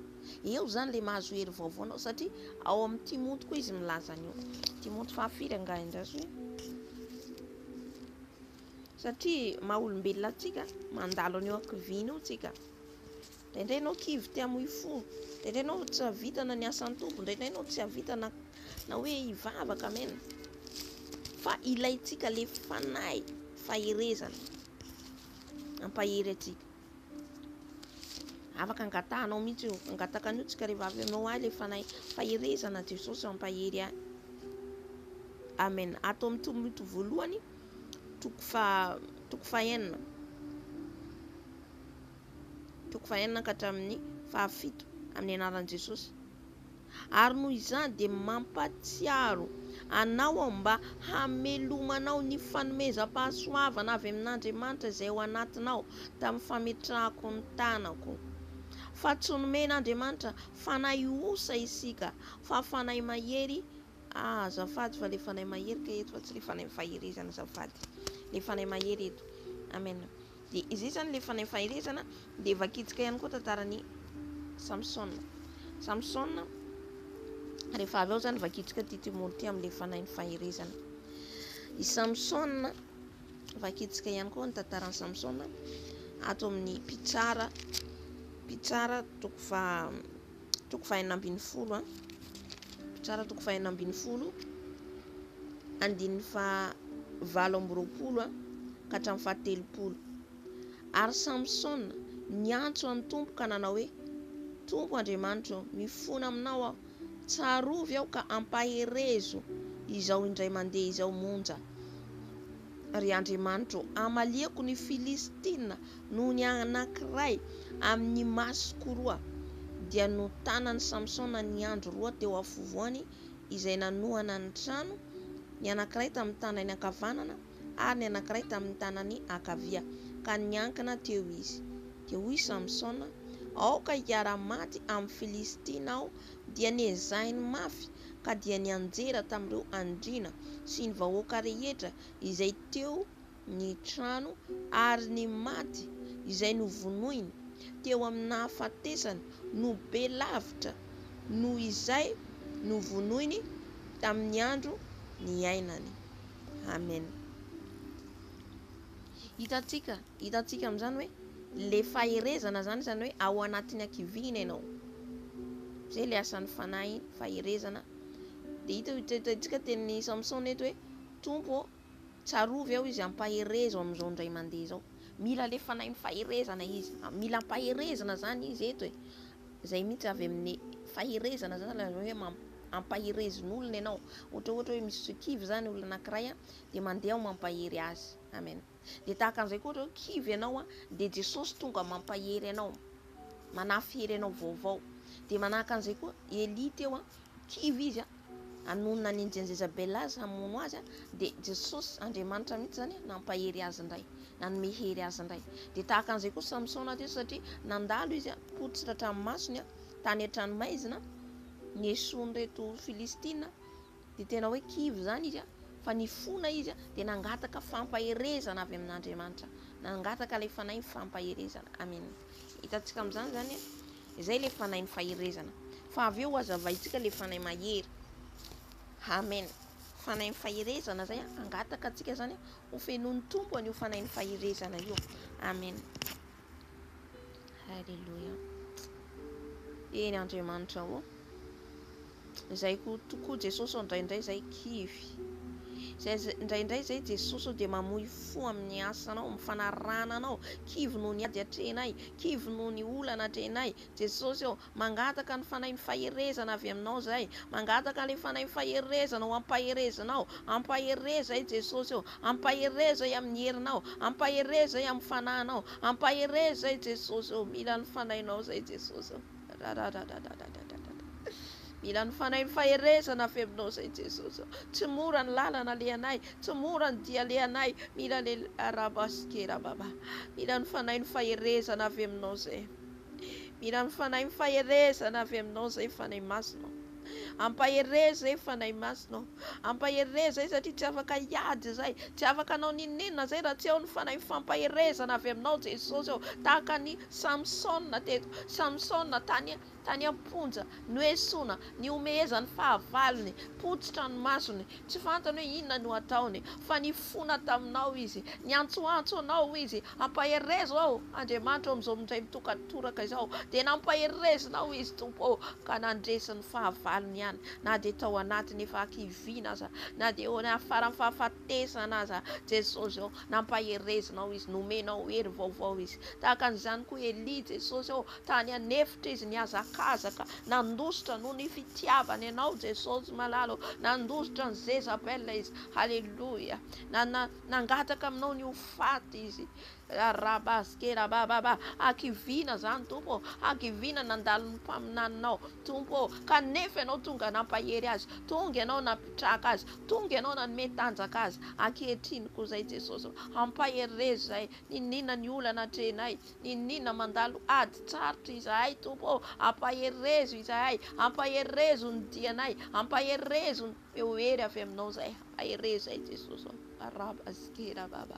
Eo izany ilay mahazo hery vaovao anao satria ao amin'ny Timoty koa izy milaza an'io. Timoty fahafiry angaha indrazo e? Satria maha-olombelona antsika, mandalo an'io ankiviana io tsika. Indraindray ianao kivy te hamoy fo, indraindray ianao tsy havitana ny asan'ny Tompo, indraindray ianao tsy havitana na hoe hivavaka amen. Fa ilaintsika le fanahy faherezana. Mampahery antsika. Afaka angatahanao mihitsy io. Angataka an'io tsika ry vavy omeo ahy ilay fanahy faherezana Jesosy ampahery ahy. Amen. Ato amin'ny tomboto voalohany toko fa toko fahenina. Toko fahenina ka hatramin'ny fahafito amin'ny anaran'i Jesosy. ary noho izany dia mampatsiaro anao aho mba hamelomanao ny fanomezam-pahasoavana avy amin'Andriamanitra izay ao anatinao tamin'ny fametrahako ny tanako. Fa tsy nomen'Andriamanitra fanahy osa isika, fa fanahy mahery Ah, azafady fa le fanahy mahery ka eto fa tsy le fanahy faherezana azafady. Le fanahy mahery eto. Amen. Dia izay izany ilay fanahy faherezana dia vakitsika ihany koa tantaran'i Samsona. Samsona rehefa avy ao izany vakitsika ity Timory ity amin'ilay fanahin'ny faherezana. I Samsona vakitsika ihany koa ny tantaran'i Samsona ato amin'ny mpitsara mpitsara toko fa toko fahenina ambin'ny folo an Tsara toko fahenina ambin'ny folo andininy fa valo amby roapolo an ka hatramin'ny faha telopolo ary Samsona niantso an'ny tompo ka nanao hoe tompo Andriamanitro mifona aminao aho tsarovy aho ka ampaherezo izao indray mandeha izao monja Ry Andriamanitro ô, hamaliako ny Filistina noho ny anankiray amin'ny masoko roa. Dia notanan'i Samsona ny andry roa teo afovoany izay nanohana ny trano, ny anankiray tamin'ny tanany ankavanana ary ny anankiray tamin'ny tanany ankavia, ka niankina teo izy. Dia hoy Samsona, Aoka hiara-maty amin'ny Filistina aho dia nezahiny mafy ka dia nianjera tamin'ireo andriana sy ny vahoaka rehetra izay teo ny trano ary ny maty izay novonoiny teo amin'ny nahafatesany no be lavitra noho izay novonoiny tamin'ny andro niainany. Amen. Hitantsika, hitantsika amin'izany hoe ilay faherezana izany, izany hoe ao anatin'ny hakiviana ianao. Izay ilay asan'ny fanahy, faherezana. Dia hita io hitantsika tenin'i Samsona eto hoe Tompo, tsarovy aho izy ampaherezo amin'izao indray mandeha izao. Mila ilay fanahin'ny faherezana izy. Ah, mila ampaherezana izany izy eto e. Izay mihitsy avy amin'ny faherezana izany ilay hoe ampaherezin'olona ianao. Ohatra ohatra hoe misy kivy izany olona anankiray, dia mandeha aho mampahery azy amen dia tahaka an'izay koa ohatra hoe kivy ianao a dia jesosy tonga mampahery anao manafy hery anao vaovao dia manahaka an'izay koa elia teo a kivy izy a anonona ny anjeny zezabela azy hamono azy a dia jesosy andriamanitra mihitsy zany nampahery azy indray nanome hery azy indray dia tahaka an'izay koa samsona teo satria nandalo izy a potsitra hatramin'ny masony a tany an-tranomaizina ny esoan'ireto filistina Dia tena hoe kivy izany izy fa nifona izy dia nangataka fampaherezana avy amin'Andriamanitra. Nangataka ilay fanahin'ny fampaherezana. Amen. Hitantsika amin'izany izany izay ilay fanahin'ny faherezana. Fa avy eo hazavaintsika ilay fanahy mahery. Amen. Fanahin'ny faherezana izay hangataka antsika izany ho fenoin'ny tompo an'io fanahin'ny faherezana io. Amen. Haleloia. Eny Andriamanitra ô. Izay ko tokoa Jesosy ô ndraindray izay kivy. Izay ndraindray izay Jesosy ô dia mamoy fo amin'ny asanao, amin'ny fanarahana anao. Kivy noho ny ady atrehinay, kivy noho ny olana atrehinay. Jesosy ô, Mangataka ny Fanahin'ny Faherezana avy aminao izay. Mangataka ilay Fanahin'ny Faherezana ho ampaherezanao. Ampahereza ahy Jesosy ô. Ampahereza ahy amin'ny herinao. Ampahereza ahy amin'ny Fanahinao. Ampahereza ahy Jesosy ô. Mila ny Fanahinao izay Jesosy ô. Rararararararararara. Mila ny Fanahin'ny Faherezana avy aminao izay Jesosy ô. Tsy mora ny lalana alehanay. Tsy mora ny dia alehanay. Mila ilay Arabasikera Baba. Mila ny Fanahin'ny Faherezana avy aminao izay. Mila ny Fanahy ny faherezana avy Aminao izay Fanahy Masina ô. Ampahereza e Fanahy Masina ô. Ampahereza e satria tsy afaka hiady izay, tsy afaka hanao n'inon'inona izay raha tsy ao ny Fanahy ny fampaherezana avy Aminao Jesosy ô. Tahaka an'i Samsona teto, Samsona tany tany am-ponja, Noesoina, nihomehezan'ny fahavalony, potsitra ny masony, tsy fantany hoe inona no ataony, fa nifona taminao izy, niantsoantso anao izy, Ampaherezo aho, Andriamanitra ô, amin'izao mindray mitokatoraka izao, dia nampaherezinao izy, Tompo ô, ka nandresy ny fahavalony ihany, na dia tao anatin'ny efa hakiviana aza, na dia eo afaran'ny fahafatesana aza, Jesosy ô, nampaherezinao izy, nomenao hery vaovao izy, tahaka an'izany koa Elia, Jesosy ô, Tany an'efitra izy nihazakazaka, nandositra noho ny fitiavany anao Jesosy malala ô, nandositra an'i Jezabel izy, haleloia, nana, nangataka aminao ny ho faty izy, rarabaskerabababa, hakiviana zany Tompo ô, hakiviana nandalo ny mpaminaninao Tompo ô, kanefa ianao tonga nampahery azy, tonga ianao napitraka azy, tonga ianao nanome tanjaka azy, ankehitriny koa zay Jesosy ô, ampahery re zay, niniana ny olana atrehinay, Niniana mandalo ady tsarotra izahay, Tompo ô, ampaherezo izahay, ampaherezo ny dianay, ampaherezo ny feo hery avy Aminao izay, ampaherezo ahy Jesosy ô, araba zikera baba,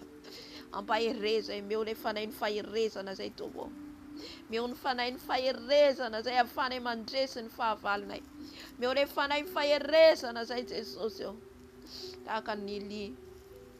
ampaherezo ahy, omeo ilay fanahin'ny faherezana izay Tompo ô, omeo ny fanahin'ny faherezana izay ahafahanay mandresy ny fahavalonay, omeo ilay fanahy faherezana izay Jesosy ô, tahaka an'i Elia.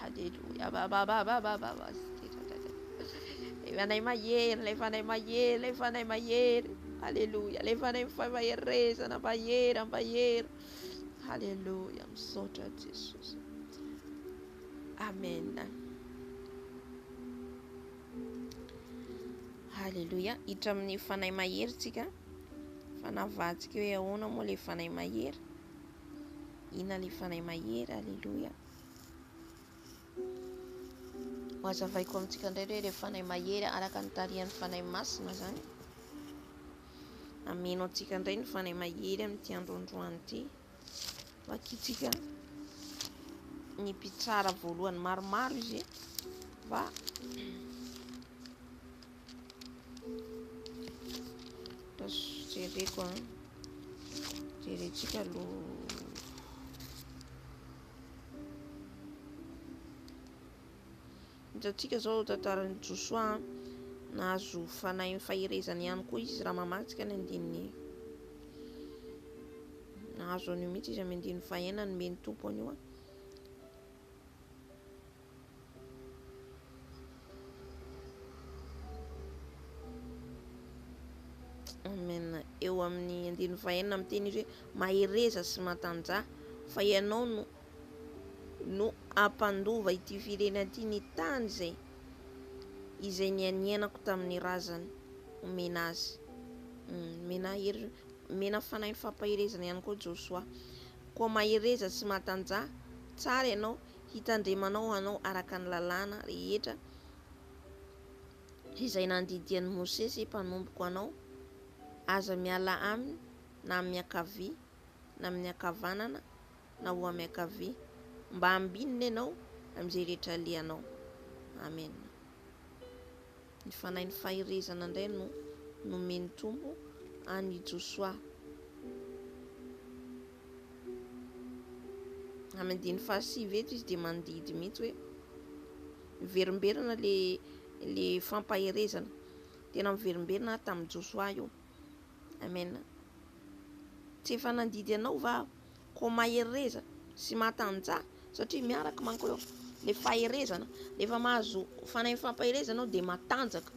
Haleloia. Ilay Fanahy Mahery, ilay Fanahy Mahery, ilay Fanahy Mahery. Haleloia. Ilay Fanahy Faherizana, Mahery, Mahery. Haleloia. Misaotra Jesosy. Amen. Haleloia. Hiditra amin'ny Fanahy Mahery tsika. Fa navahantsika hoe ahoana moa ilay Fanahy Mahery. Inona le fanahy mahery Aleloia Mazavaiko amintsika indray hoe le fanahy mahery araka ny tarihan'ny fanahy masina zany Ameno antsika indray ny fanahy mahery amin'ity androandroany ity Vakitsika ny mpitsara voalohany maromaro izy mba Jereko an. Jerentsika aloha. Hitantsika izao tantaran'i Josoa nahazo fanahy ny faherezana ihany koa izy raha mamatsika ny andininy. Nahazo an'io mihitsy izy amin'ny andininy fahenina ny men'ny tompo an'io an. Amen eo amin'ny andininy fahenina miteny izy hoe mahereza sy matanjaha fa ianao no no ampandova ity firenena ity ny tany izay izay nianianako tamin'ny razany omena azy hmm, mena hery mena fanahin'ny fampaherezana ihany koa Josoa koa mahereza sy matanjaha tsara ianao Hitandremanao hanao araka ny lalàna rehetra izay nandidian'i Mosesy mpanompoko anao, aza miala aminy na amin'ny ankavia na amin'ny ankavanana na ho miankavia, mba hambinina ianao amin'izay rehetra alehanao. Amena. Ny fanahin'ny faherezana indray no nomen'ny Tompo an'i Josoa. Amin'ny andininy fahasivy eto izy dia mandidy mihitsy hoe miverimberina le le fampaherezana. Tena miverimberina aho tamin'i Josoa io. Amen. Tsy efa nandidy anao va aho? Koa mahereza sy matanjaha satria miaraka manko eo le faherezana rehefa mahazo fanahy fampaherezana anao dia matanjaka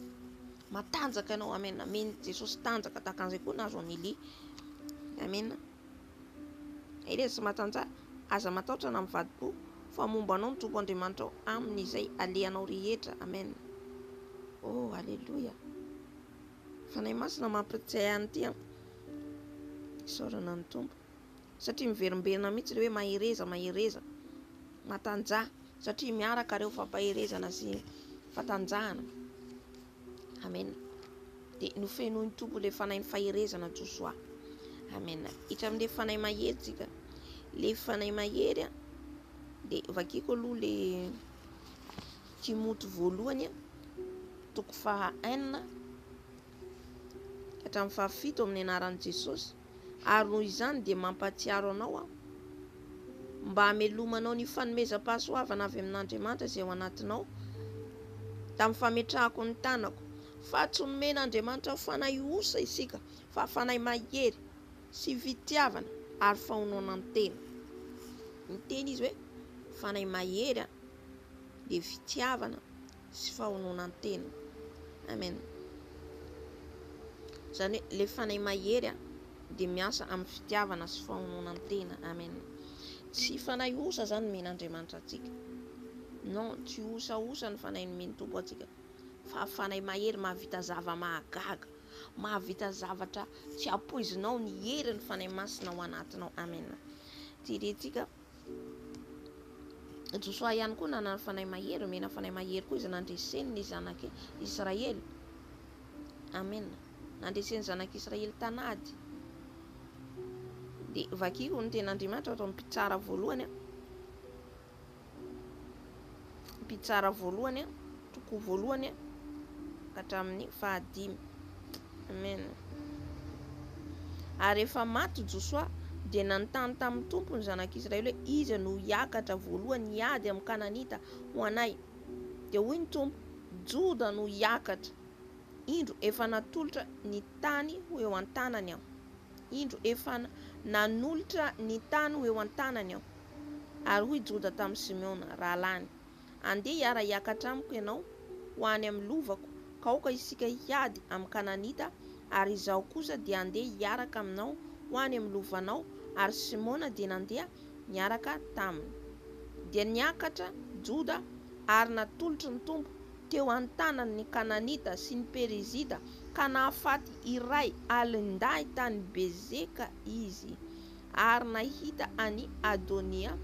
matanjaka ianao amen amen jesosy tanjaka tahaka an'izay koa nahazo an'i elia amen mahereza sy matanjaha aza matahotra na mivadi-po fa momba anao ny tompo andriamanitra ao amin'izay alehanao rehetra amen oh aleloia fanahy masina mampiritsay an'ity an isaorana ny tompo satria miverimberina mihitsy ilay hoe mahereza mahereza matanjaha satria miaraka ireo fampaherezana sy fatanjahana amena dia nofenoiny tompo ilay fanahy ny faherezana josoa amena hitra amin'ilay fanahy mahery tsika le fanahy mahery a dia vakiko aloha le timoty voalohany a toko faha enina hatramin'ny fahafito amin'ny anaran'i jesosy ary noho izany dia mampahatsiaro anao aho mba hamelomanao ny fanomezam-pahasoavana avy amin'Andriamanitra izay ao anatinao tamin'ny fametrahako ny tanako fa tsy nomen'Andriamanitra fanahy osa isika fa fanahy mahery sy fitiavana ary fahonoana ny tena ny teny izy hoe fanahy mahery dia fitiavana sy fahononan-tena. Amen. Izany hoe ilay fanahy mahery a, dia miasa amin'ny fitiavana sy fahononan-tena. Amen. Tsy fanahy osa izany mena Andriamanitra antsika. Non, tsy osa osa ny fanahy nomeny Tompo antsika. Fa fanahy mahery mahavita zava mahagaga, mahavita zavatra tsy ampoizinao ny hery ny fanahy masina ao anatinao. Amen. Tirentsika Josoa ihany koa nanana fanahy mahery, omena fanahy mahery koa izy nandreseny ny zanak'i Israely. Amen. Nandreseny ny zanak'i Israely tanady. Dia vakiko ny tenin'Andriamanitra ato amin'ny mpitsara voalohany. mpitsara voalohany toko voalohany ka hatramin'ny fahadimy amen ary efa maty Josoa dia nanontany tamin'ny tompo ny zanak'Israely hoe iza no hiakatra voalohany hiady amin'ny kananita ho anay dia hoy ny tompo Joda no hiakatra indro efa natolotra ny tany ho eo an-tanany aho indro efa nanolotra ny tany ho eo an-tanany aho Ary hoy Joda tamin'i Simeona, rahalahiny, Andeha hiara-hiakatra amiko ianao ho any amin'ny lovako, ka aoka isika hiady amin'ny Kananita, ary izaho kosa dia handeha hiaraka aminao ho any amin'ny lovanao. Ary Simeona dia nandeha niaraka taminy. Dia niakatra Joda ary natolotry ny Tompo teo an-tanany ny Kananita sy ny Perizita, ka nahafaty iray alin-dahy tany Bezeka izy. Ary nahita an'i Adonia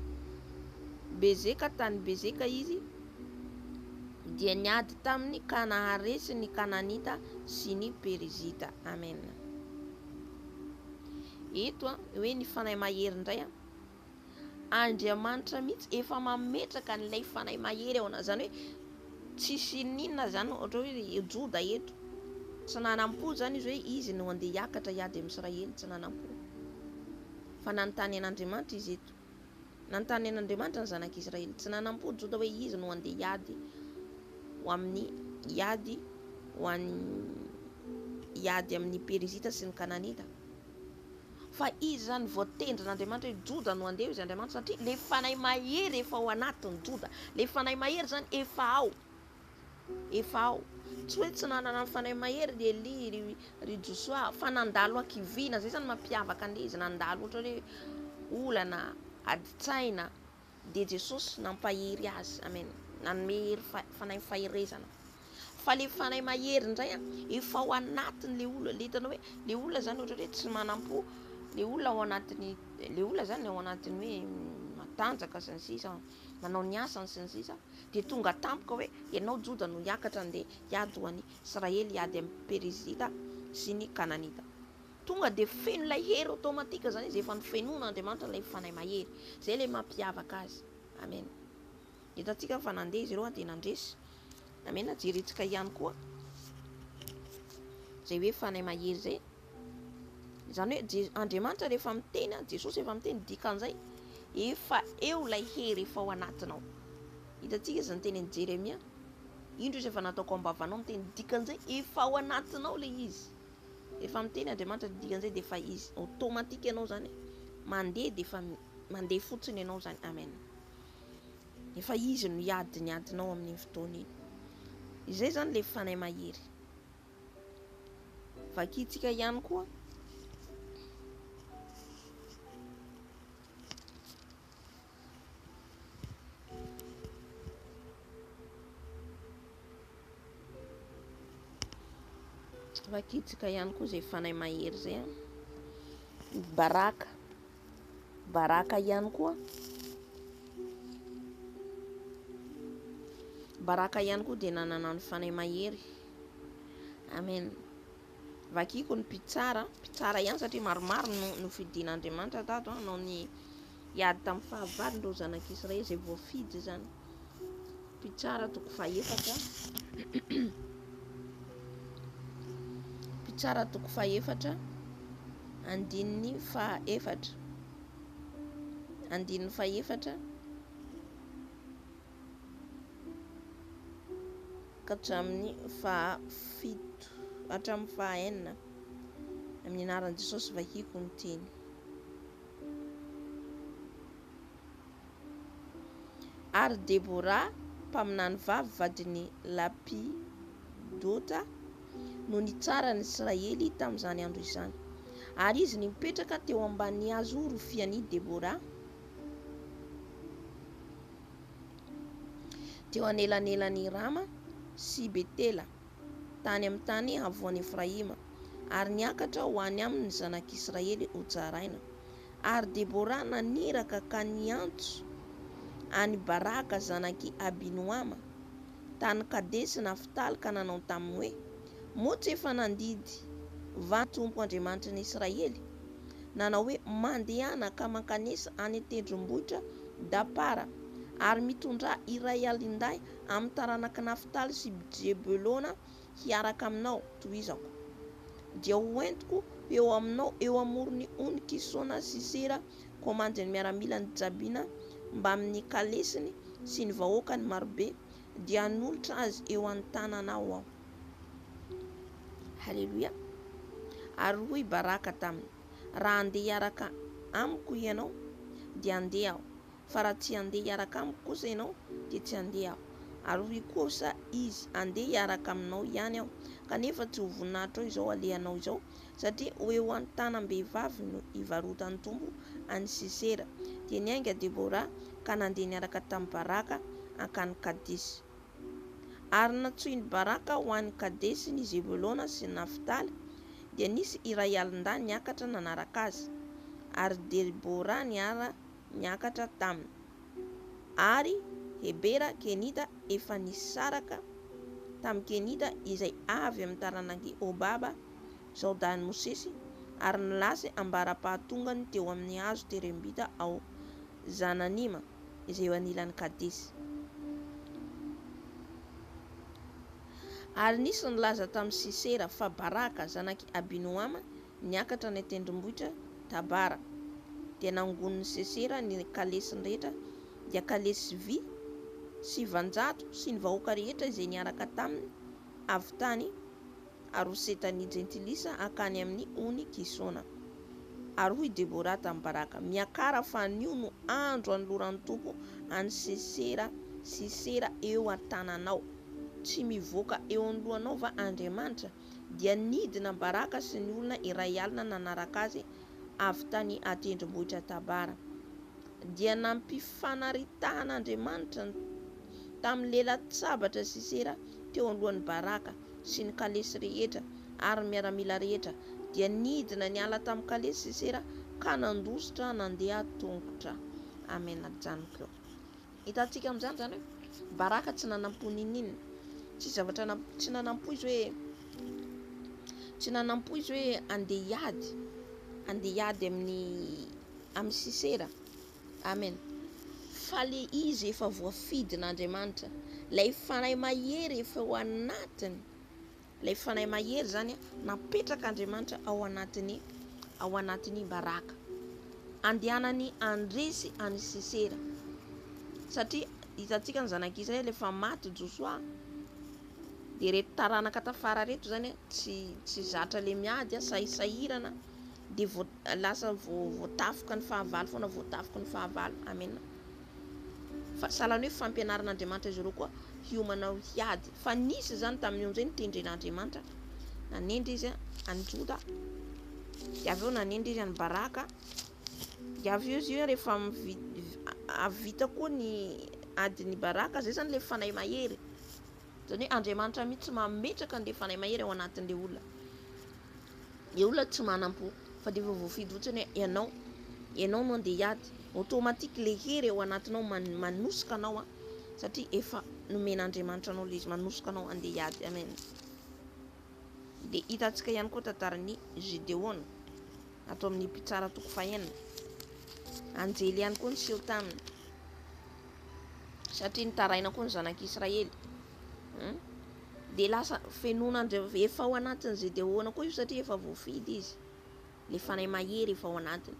Bezeka tany Bezeka izy, dia niady taminy ka naharesy ny Kananita sy ny Perizita. Amen. Eto an, hoe ny Fanahy Mahery indray an. Andriamanitra mihitsy efa mametraka an'ilay Fanahy Mahery ao anao. Izany hoe. Tsisy ininona izany ohatra hoe ry Joda eto, tsy nanampo izany izy hoe izy no handeha hiakatra hiady amin'i Israely, tsy nanampo. Fa nanontany an'Andriamanitra izy eto. Nanontany an'Andriamanitra ny zanak'Israely. Tsy nanampo Joda hoe izy no handeha hiady ho amin'ny hiady ho an'ny hiady amin'ny Perizita sy ny Kananita. Fa izy izany voatendrin' Andriamanitra hoe Joda no handeha hoy izy Andriamanitra satria ilay fanahy mahery efa ao anatin'i Joda. Ilay fanahy mahery izany efa ao, efa ao. Tsy hoe tsy nanana ny fanahy mahery ry Elia, ry, ry Josoa, fa nandalo hakiviana, izay izany mampiavaka an'ilay izy nandalo ohatra hoe olana, adin-tsaina, dia Jesosy nampahery azy. Amen. Nanome hery fanahy faherezana. Fa le fanahy mahery indray an, efa ao anatiny le olona. Le hitanao hoe le olona zany ohatra hoe tsy manam-po, le olona ao anatiny, le olona zany ao anatiny hoe mm, matanjaka sy ny sisa, manao ny asany sy ny sisa, dia tonga tampoka hoe ianao Joda no hiakatra andeha hiady ho an'i Israely, hiady amin'ny Perizita sy ny Kananita. Tonga dia feno ilay hery automatique izany izy, efa nofenoina Andriamanitra ilay Fanahy Mahery. Izay ilay mampiavaka Azy. Amen. Hitantsika fa nandeha izy ireo dia nandresy. Amen. Jerentsika ihany koa izay hoe Fanahy Mahery izay. Izany hoe Andriamanitra rehefa miteny, Jesosy efa miteny, dikan'izay efa eo ilay hery efa ao anatinao. Hitantsika izy niteny an'i Jeremia, indro izy efa nataoko ambavanao miteny, dikan'izay efa ao anatinao ilay izy. Efa miteny Andriamanitra dia dikan'izay dia efa izy automatique ianao izany mandeha dia efa mandeha fotsiny ianao izany amen. Efa izy no hiady ny adinao amin'iny fotoana iny. Izay izany ilay fanahy mahery. Vakintsika ihany koa Rakitsaka ihany koa izay fanahy mahery izay an. Baraka. Baraka ihany koa. Baraka ihany koa dia nanana ny fanahy mahery. Amen. Vakiko ny mpitsara, mpitsara ihany satria maromaro no, no fidin'Andriamanitra tato hanao ny Hiady tamin'ny fahavalony ireo zanak'i Israely izay voafidy izany. Mpitsara toko fahefatra. Mpitsara toko fahefatra, andininy fahefatra. Andininy fahefatra. Hatramin'ny fahafito, hatramin'ny fahaenina. Amin'ny anaran'i Jesosy vahiko ny teny. Ary Debora, mpaminany vavy vadin'i Lapidota, no nitsara ny Israely tamin'izany andro izany. Ary izy nipetraka teo ambanin'ny hazo rofian'i Debora, teo anelanelan'i Rama sy Betela. tany amin'ny tany havoan'i Efraima, ary niakatra ho any aminy ny zanak'Israely hojaraina. Ary Debora naniraka ka niantso an'i Baraka zanak'i Abinoama, tany Kadesi-Naftaly ka nanao taminy hoe, Moa tsy efa nandidy va ny Tompo Andriamanitry ny Israely, nanao hoe, Mandehana ka mankanesa any an-tendrombohitra Dapara, ary mitondrà iray alindahy amin'ny taranak'i Naftaly sy Jebelona hiaraka aminao, tohizako. Dia hoentiko eo aminao eo amoron'ny ony Kisona Sisera, komandin'ny miaramilan'i Jabina, mbamin'ny kalesiny sy ny vahoakany marobe, dia hanolotra azy eo an-tananao aho. Haleloia! Ary hoy Baraka taminy, Raha handeha hiaraka amiko hianao, dia handeha aho, fa raha tsy handeha hiaraka amiko kosa ianao dia tsy handeha aho. Ary hoy kosa izy, Handeha hiaraka aminao ihany aho, kanefa tsy ho voninahitrao izao alehanao izao, satria ho eo an-tanam-behivavy no hivarotan'ny tompo an'i Sisera. Dia niainga Debora ka nandeha niaraka tamin'i Baraka hankany Kadesy. Ary nantsoin'i Baraka ho any Kadesy ny Zebolona sy ny Naftaly, dia nisy iray alin-dahy niakatra nanaraka azy, ary Debora niara niakatra taminy, ary Hebera, Kenita, efa nisaraka tamin'ny Kenita izay avy amin'ny taranak'i Hobaba, zaodahin'i Mosesy, ary nilasy ambara-pahatongany teo amin'ny hazo terembita ao Zananima, izay eo anilan'i Kadesy. Ary nisy nilaza tamin'i Sisera fa Baraka, zanak'i Abinoama, Niakatra any an-tendrombohitra Tabara, dia nangonin'i Sesera ny kalesiny rehetra, dia kalesy sy vy, sivanjato, sy ny vahoaka rehetra izay niaraka taminy, avy tany Haroseta ny Jentilisa hankany amin'ny ony Kisona. Ary hoy Debora tamin'i Baraka, Miakara, fa anio no andro anoloran'ny Tompo an'i Sesera Sisera eo an-tananao. Tsy mivoaka eo anoloanao va Andriamanitra? dia nidina baraka sy ny olona iray alina nanaraka azy avy tany an-tendrombohitra Tabara. Dia nampifanaritahan'Andriamanitra ny tamin'ny lelan-tsabatra Sisera teo alohan'i Baraka sy ny kalesy rehetra ary ny miaramila rehetra, dia nidina niala tamin'ny kalesy Sisera ka nandositra nandeha tongotra. Amena. Janko. Hitantsika amin'izany izany hoe Baraka tsy nanampo n'inon'inona. Tsisy zavatra na tsy nanampo izy hoe tsy nanampo izy hoe andeha hiady, andeha hiady amin'ny amin'ny Sisera. Amen. Fa le izy efa voafidin'Andriamanitra, lay fanahy mahery efa ao anatiny. Ilay fanahy mahery izany napetrak'Andriamanitra ao anatin'ny ao anatin'i Baraka. Andehanany handresy an'i Sisera. Satria hitantsika ny zanak'i Israely rehefa maty Josoa dia reto taranaka tafara reto zany tsy tsy zatra le miady sahirana dia lasa voatafoka ny fahavalo foana voatafoka ny fahavalo. Amen. fa sahala ny hoe fampianaran'Andriamanitra izy ireo koa hiomana ho hiady, fa nisy izany tamin'ny onjy hoe nitendren'Andriamanitra, nanendry izy an'i Joda, dia avy eo nanendry izy an'i Baraka, dia avy eo izy hoe rehefa avy vita koa ny adin'i Baraka, izay izany ilay fanahy mahery, izany hoe Andriamanitra mihitsy mametraka an'ilay fanahy mahery ao anatin'ilay olona. Ilay olona tsy manam-po fa dia efa voafidy fotsiny hoe ianao, ianao no andeha hiady. Automatique ilay hery ao anatinao manosika anao satria efa nomen'Andriamanitra anao ilay izy manosika anao andeha hiady. Amen. Dia hitantsika ihany koa tantaran'i Gideona ato amin'ny mpitsara toko fahenina. Anjely ihany koa niseho taminy satria nitaraina koa ny zanak'Israely. dia lasa fenoina andreo efa ao anatin'ny GDO-na koa io satria efa voafidy izy le fanahy mahery efa ao anatiny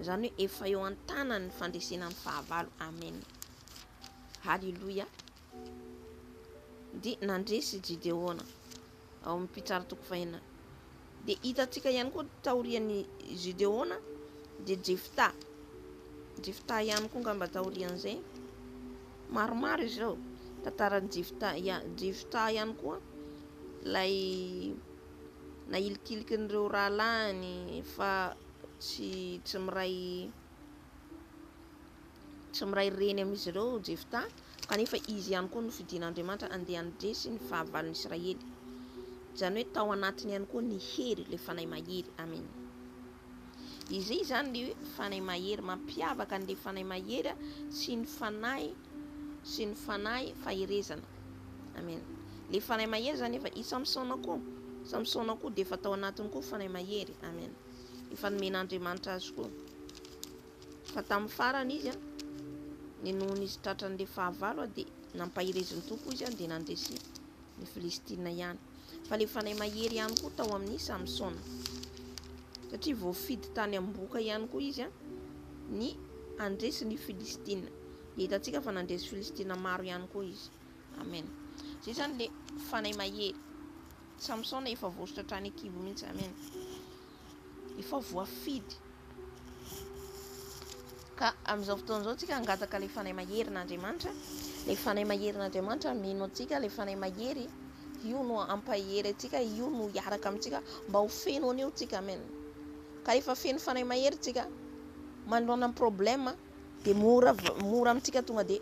izany hoe efa eo an-tanan'ny fandresena ny fahavalo amen haleloia dia nandresy GDO-na ao amin'ny mpitsara toko fahina. Dia hitantsika ihany koa taorian'ny Gideona dia Jefta. Jefta ihany koa ngamba taorian'izay. Maromaro izy ireo. Tantaran'i Jefta, Jefta ihany koa ilay nahilikiliky an'ireo rahalahiny fa tsy tsy miray Tsy miray reny amin'izy ireo Jefta, kanefa izy ihany koa no fidin'Andriamanitra handeha handresy ny fahavalon'ny Israely. Izany hoe tao anatiny ihany koa ny hery, ilay fanahy mahery. Amena. Izay izany ny hoe fanahy mahery. Mampiavaka an'ilay fanahy mahery sy ny fanahy sy ny fanahy faherezana. Amena. Ilay fanahy mahery izany efa i Samsona koa. Samsona koa dia efa tao anatiny koa fanahy mahery. Amena. Efa nomen'Andriamanitra azy koa. Fa tamin'ny farany izy, ny nohon' izy tratran' ilay fahavalo, dia nampaherezin' Tompo izy, dia nandresy ny Filistina ihany. Fa ilay fanahy mahery ihany koa tao amin' i Samsona, satria voafidy tany am-bohoka ihany koa izy ny handresy ny Filistina. Dia hitantsika fa nandresy Filistina maro ihany koa izy. Amen. Izay izany ilay fanahy mahery. Samsona efa voasotra hatrany an-kibo mihitsy. Amen. efa voafidy ka amin'izao fotoana izao tsika hangataka ilay fanahy maherin'Andriamanitra ilay fanahy maherin'Andriamanitra mino antsika ilay fanahy mahery io no ampahery antsika io no hiaraka amintsika mba ho feno an'io tsika amen ka rehefa feno fanahy mahery tsika manoloana ny problema dia mora mora amintsika tonga dia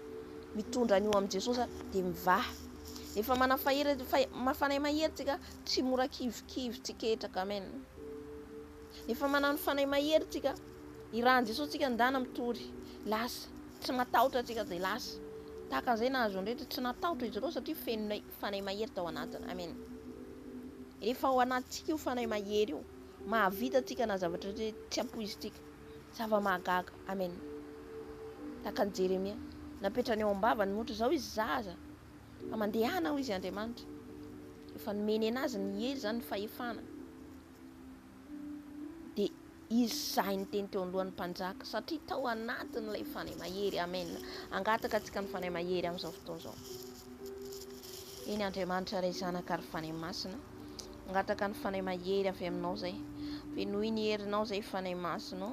mitondra an'io amin'i Jesosy dia mivaha rehefa manana fahery fanahy mahery tsika Tsy mora kivikivy tsy ketraka amen efa manao ny fanahy mahery tsika ny rahan'i Jesosy tsika ndana mitory lasa tsy matahotra tsika dia lasa tahaka an'izay nahazo ny rehetra tsy natahotra izy ireo satria fenonay fanahy mahery tao anatiny amen efa ao anatintsika io fanahy mahery io mahavita tsika na zavatra hoe tsy ampoizintsika zava mahagaga amen tahaka an'i Jeremia napetrany ao am-bavany motra izao izy zaza Fa mandehana hoy izy Andriamanitra efa nomeny anazy ny hery izany ny fahefana dia izy sahy niteny teo anlohan'ny mpanjaka satria tao anatin'ilay fanahy mahery amen angataka antsika ny fanahy mahery amin'izao fotoana izao eny Andriamanitra ray zanaka ary fanahy masina angataka ny fanahy mahery avy aminao izay fenoy ny herinao izay fanahy masinao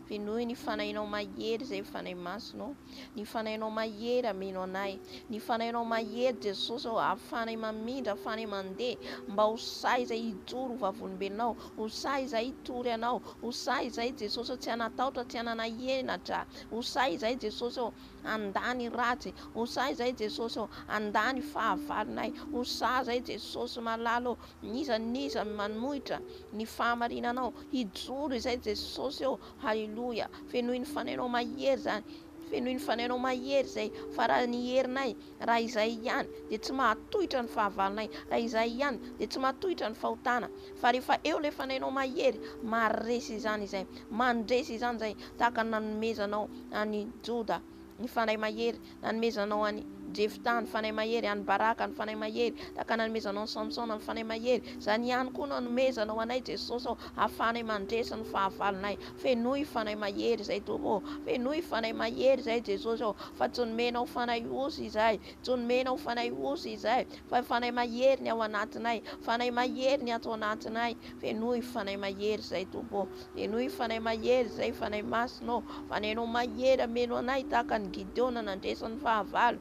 fenoy ny fanahinao mahery izay fanahy masinao Ny fanahinao mahery ameno anay Ny fanahinao mahery Jesosy ô Ary fanahy mamindra fanahy mandeha Mba ho sahy izay hijoro ho vavolombelonao Ho sahy izay hitory anao Ho sahy izay Jesosy ô Tsy hanataotra tsy hananahena Dra Ho sahy izay Jesosy ô Handà ny ratsy Ho sahy izay Jesosy ô Handà ny fahavalonay Ho sahy izay Jesosy malala ô N'iza n'iza manohitra ny fahamarinanao Hijoro izay Jesosy ô Haleloia! Fenoy ny fanainao mahery izany, fenoy ny fanainao mahery izay, fa raha ny herinay, raha izay ihany dia tsy mahatohitra ny fahavalonay, raha izay ihany dia tsy mahatohitra ny fahotana, fa rehefa eo ilay fanainao mahery, maharesy izany izay, mandresy izany izay, tahaka ny nanomezanao an'i Joda ny Fanahy Mahery nanomezanao an'i Jefta, ny Fanahy Mahery an'i Baraka, ny Fanahy Mahery tahaka nanomezanao an'i Samsona, ny Fanahy Mahery, izany ihany koa no anomezanao anay Jesosy ô, ahafahanay mandresy ny fahavalonay, fenoy Fanahy Mahery izay Tompo ô, fenoy Fanahy Mahery izay Jesosy ô, fa tsy nomenao fanahy osy izahay, tsy nomenao fanahy osy izahay, fa Fanahy Mahery ny ao anatinay, Fanahy Mahery ny ato anatinay, fenoy Fanahy Mahery izay Tompo ô. Henoy Fanahy Mahery izay Fanahy Masina ô, fa ny Anao Mahery hameno anay tahaka an'i Gideona nandresy ny fahavalo.